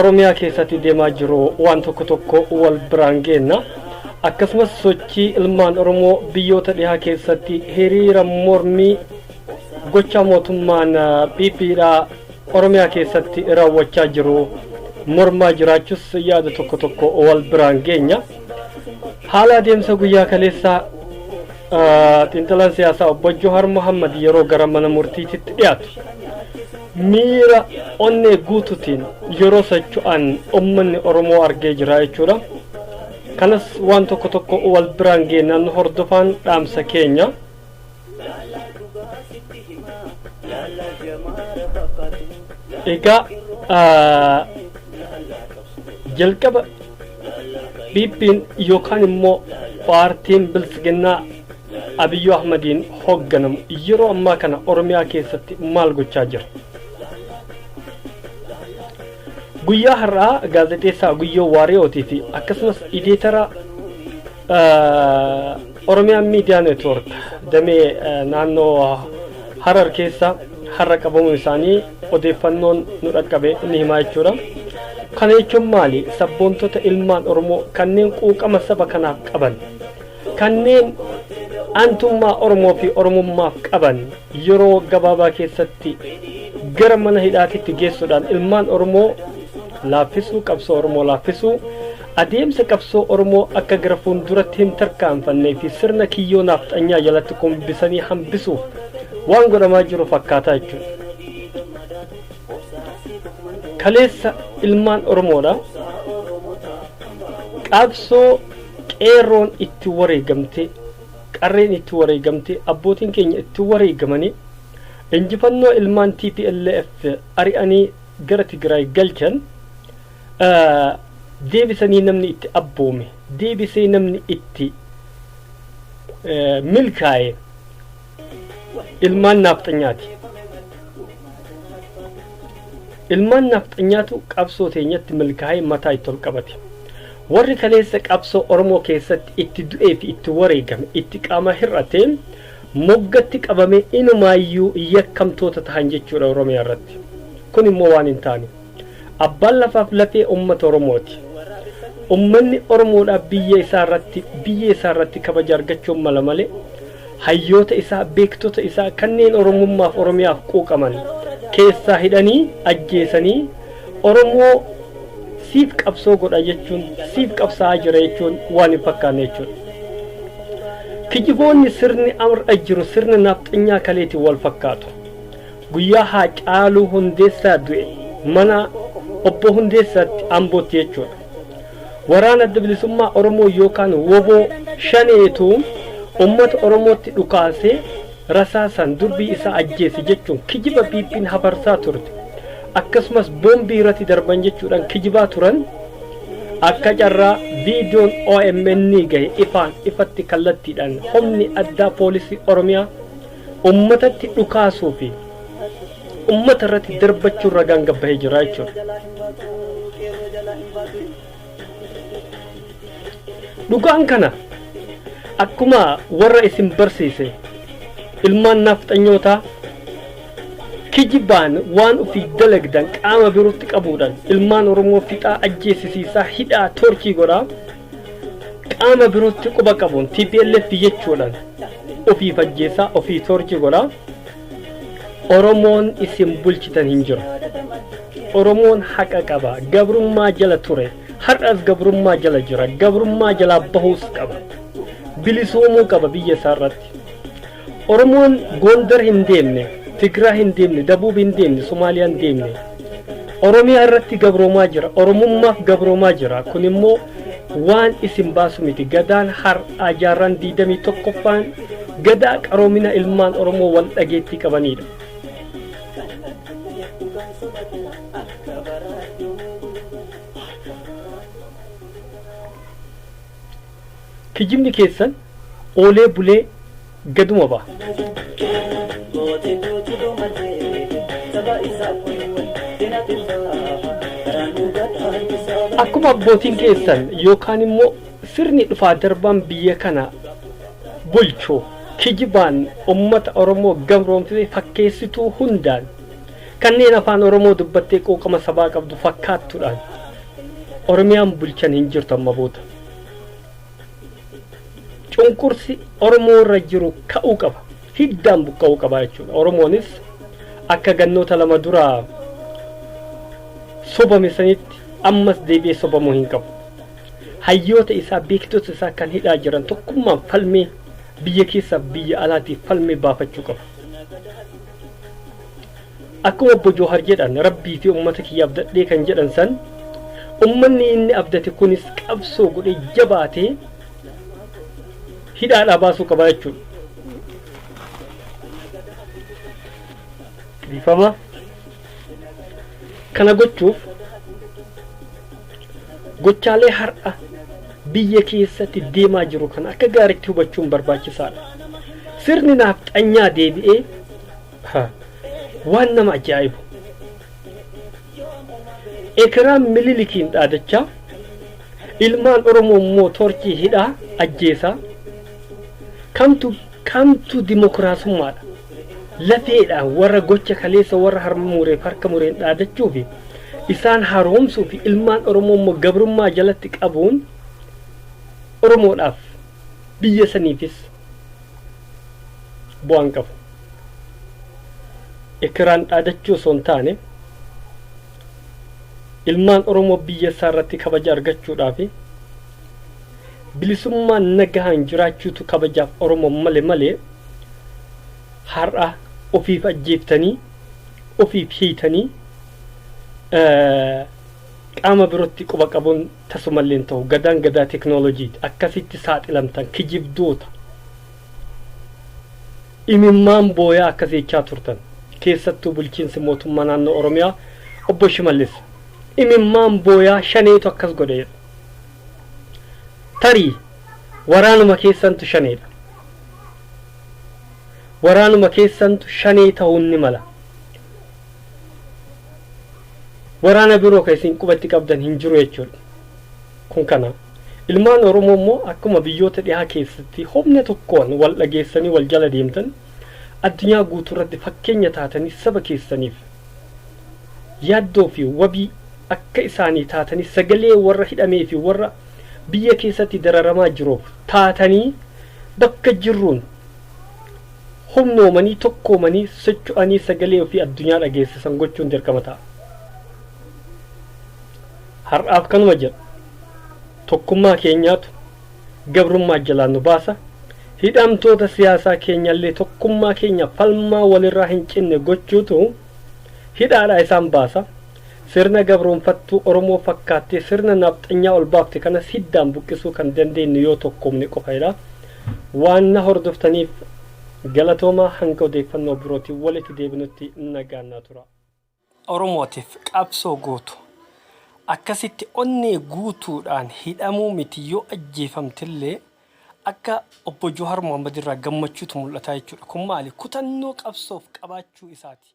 Oromiyaa keessatti deemaa jiru waan tokko tokko wal biraan geenna. Akkasumas sochii ilmaan Oromoo biyyoota dhihaa keessatti hiriira mormii gochaa mootummaan PP dhaa Oromiyaa keessatti raawwachaa jiru mormaa jiraachus yaada tokko tokko wal biraan geenya. Haala adeemsa guyyaa kaleessaa xiinxalaan siyaasaa obbo Johar Mohammad yeroo gara mana murtiititti dhiyaatu. Miira onnee guutuutiin yeroo socho'an ummanni Oromoo argee jira jechuudha. Kanas waan tokko tokko wal biraan geennaan nu hordofaan dhaamsa keenya. Egaa jalqaba PP'n yookaan immoo paartiin biltsiginnaa Abiyyu Ahmadiin hoogganamu yeroo ammaa kana Oromiyaa keessatti maal gochaa jira? Guyyaa har'aa gaazexeessaa Guyyoo Waariyootii fi akkasumas ideetara Oromiyaa Miidiyaa Neetwoork damee eh, naannoo Harar keessa har'a qabamuun isaanii odeeffannoon nu dhaqqabe ni himaa jechuudha. Kana jechuun maali? Sabboontota ilmaan Oromoo kanneen quuqama saba kanaaf qaban Kanneen aantummaa Oromoo fi Oromummaaf qaban yeroo gabaabaa keessatti gara mana hidhaatitti geessuudhaan ilmaan Oromoo laaffisuu, qabsoo Oromoo laaffisuu, adeemsa qabsoo Oromoo akka gara fuulduratti hin tarkaanfannee fi sirna kiyyoo naafxanyaa jalatti kumbisanii hambisuuf waan godhamaa jiru fakkaata jechuudha. Kaleessa ilmaan Oromoodha. Qabsoo Qeerroon itti wareegamtee, qarreen itti wareegamtee, abbootiin keenya itti wareegamanii injifannoo ilmaan tplf ari'anii gara Tigraay galchan deebisanii namni itti abboome, deebisee namni itti milkaa'e, Ilmaan Naafxanyaati Ilmaan Naafxanyaatu qabsoo teenyatti milkaa'ee mataa itti ol qabate. Warri kaleessa qabsoo Oromoo keessatti itti du'ee fi itti wareegame, itti qaama hir'ate, moggatti qabamee inumaayyuu yakkamtoota tahan jechuudha Oromiyaa irratti. Kun immoo waan hin taane. Abbaan lafaaf lafee ummata Oromooti. Ummanni Oromoodhaaf biyya isaa irratti biyya isaa irratti kabaja argachuun mala malee hayyoota isaa, beektota isaa kanneen Oromummaaf Oromiyaaf quuqaman keessaa hidhanii ajjeesanii Oromoo siif qabsoo godha jechuun siif qabsaa'aa jira jechuun waan hin fakkaanne jechuudha. Kijiboonni sirni har'a jiru sirna naafxanyaa kaleetiin wal fakkaatu. Guyyaa Haacaaluu Hundeessaa du'e mana Obbo Hundeessaatti Ambootti jechuudha. Waraana Adda Bilisummaa Oromoo yookaan wbo Shaneetu ummata Oromootti dhukaasee rasaasaan durbii isaa ajjeese jechuun kijiba PPn hafarsaa turte. Akkasumas boombii irratti darban jechuudhaan kijibaa turan. Akka carraa viidiyoon OMN gahe ifaan ifatti kallattiidhaan humni addaa poolisii Oromiyaa ummatatti dhukaasuu fi ummata irratti darbachuun ragaan gabbahee jira jechuudha. Dhugaan kana akkuma warra isin barsiise ilmaan naafxanyootaa kijibaan waan ofii dalagdan qaama birootti qabuudhaan ilmaan Oromoo fixaa ajjeesisiisaa hidhaa torchii godhaa qaama birootti quba qabuun tplf jechuudhaan ofiif ajjeessaa ofii toorchi godhaa oromoon isin bulchitan hin jiru oromoon haqa qaba gabrummaa jala ture har'as gabrummaa jala jira gabrummaa jalaa bahuus qaba bilisoomuu qaba biyya isaa irratti Oromoon Gondar hin deemne, Tigraa hin deemne, Dabuub hin deemne, Somaaliyaa hin deemne. Oromiyaa irratti gabroomaa jira. Oromummaaf gabroomaa jira. Kun immoo waan isin baasu miti. Gadaan har'aa jaarraan 21ffaan gadaa qaroomina ilmaan Oromoo wal dhageettii qabaniidha. Kijibni keessan oolee bulee gaduma baha. Akkuma abbootiin keessan yookaan immoo sirni dhufaa darbaan biyya kana bulchu kijibaan ummata Oromoo gabroomsee fakkeessituu hundaan kanneen afaan Oromoo dubbattee quuqama sabaa qabdu fakkaattuudhaan Oromiyaan bulchan hin jirtu amma booda. cunqursi Oromoo irra jiru ka'uu qaba. Hiddaan buqqa'uu qaba jechuudha. Oromoonis akka gannoota lama dura sobame sanitti ammas deebi'ee sobamuu hin qabu. Hayyoota isaa beektota isaa kan hidhaa jiran tokkummaan falmee biyya keessaaf biyya alaatiif falmee baafachuu qaba. Akkuma obbo Joohar jedhan Rabbii fi ummata kiyya abdadhee kan jedhan san ummanni inni abdate kunis qabsoo godhee jabaatee hidhaadhaa baasuu qaba jechuudha. Dhiifama. Kana gochuuf gochaalee har'a biyya keessatti deemaa jiru kana akka gaariitti hubachuun barbaachisaadha. Sirni naafxanyaa deebi'ee Ha, waan nama ajaa'ibu. Ekiraam Mililikiin dhaadachaa, ilmaan Oromoo immoo toorchii hidhaa, ajjeesaa. Kamtu kamtu dimokiraasummaadha. Lafeedhaan warra gocha kaleessa warra harma mureef harka mureen dhaadachuu fi isaan haroomsuu fi ilmaan Oromoo immoo gabrummaa jalatti qabuun Oromoodhaaf biyya saniifis bu'aa hin qabu. Ekeraan dhaadachuu osoo hin taane ilmaan Oromoo biyya isaa irratti kabaja argachuudhaa fi bilisummaan nagahaan jiraachuutu kabajaaf Oromoo male malee har'a ofiif ajjeeftanii ofiif hiitanii qaama birootti quba qabuun Tasumallee hin tahu gadaan gadaa teknolojiiti akkasitti saaxilamtan kijibdoota imimmaan booyaa akkas jechaa turtan keessattuu bulchiinsi mootummaa naannoo oromiyaa obbo shimallis imimmaan booyaa shaneetu akkas godhe jedha tarii waraanuma keessantu shaneedha waraanuma keessantu shanee tahuun ni mala Waraana biroo kan isin qubatti qabdan hin jiru jechuudha. Kun kana. Ilmaan Oromoo immoo akkuma biyyoota dhihaa keessatti humna tokkoon wal dhageessanii wal jala deemtan addunyaa guutuu irratti fakkeenya taatanii saba keessaniif yaaddoo fi wabii akka isaanii taatanii sagalee warra hidhamee fi warra biyya keessatti dararamaa jiruuf taatanii bakka jirruun humnoomanii, tokkoomanii, socho'anii sagalee ofii addunyaa dhageessisan gochuun dirqama ta'a. Har'aaf kanuma jedha. Tokkummaa keenyaatu gabrummaa jalaa nu baasa. Hidhamtoota siyaasaa keenyallee tokkummaa keenya falmaa walirraa hin cinne gochuutu hidhaadhaa isaan baasa. Sirna gabroomfattuu Oromoo fakkaattee sirna nafxanyaa ol baafte kanas hiddaan buqqisuu kan dandeenyu yoo tokkoomne qofa jedha. Waan na hordoftaniif galatoomaa hanga odeeffannoo birootiin walitti deebinutti nagaan naa turaa. Oromootiif qabsoo gootu. Akkasitti onnee guutuudhaan hidhamuu miti yoo ajjeefamtillee akka Obbo Jawahar Mohammed irraa gammachuutu mul'ata jechuudha. Kun maali? Kutannoo qabsoof qabaachuu isaati.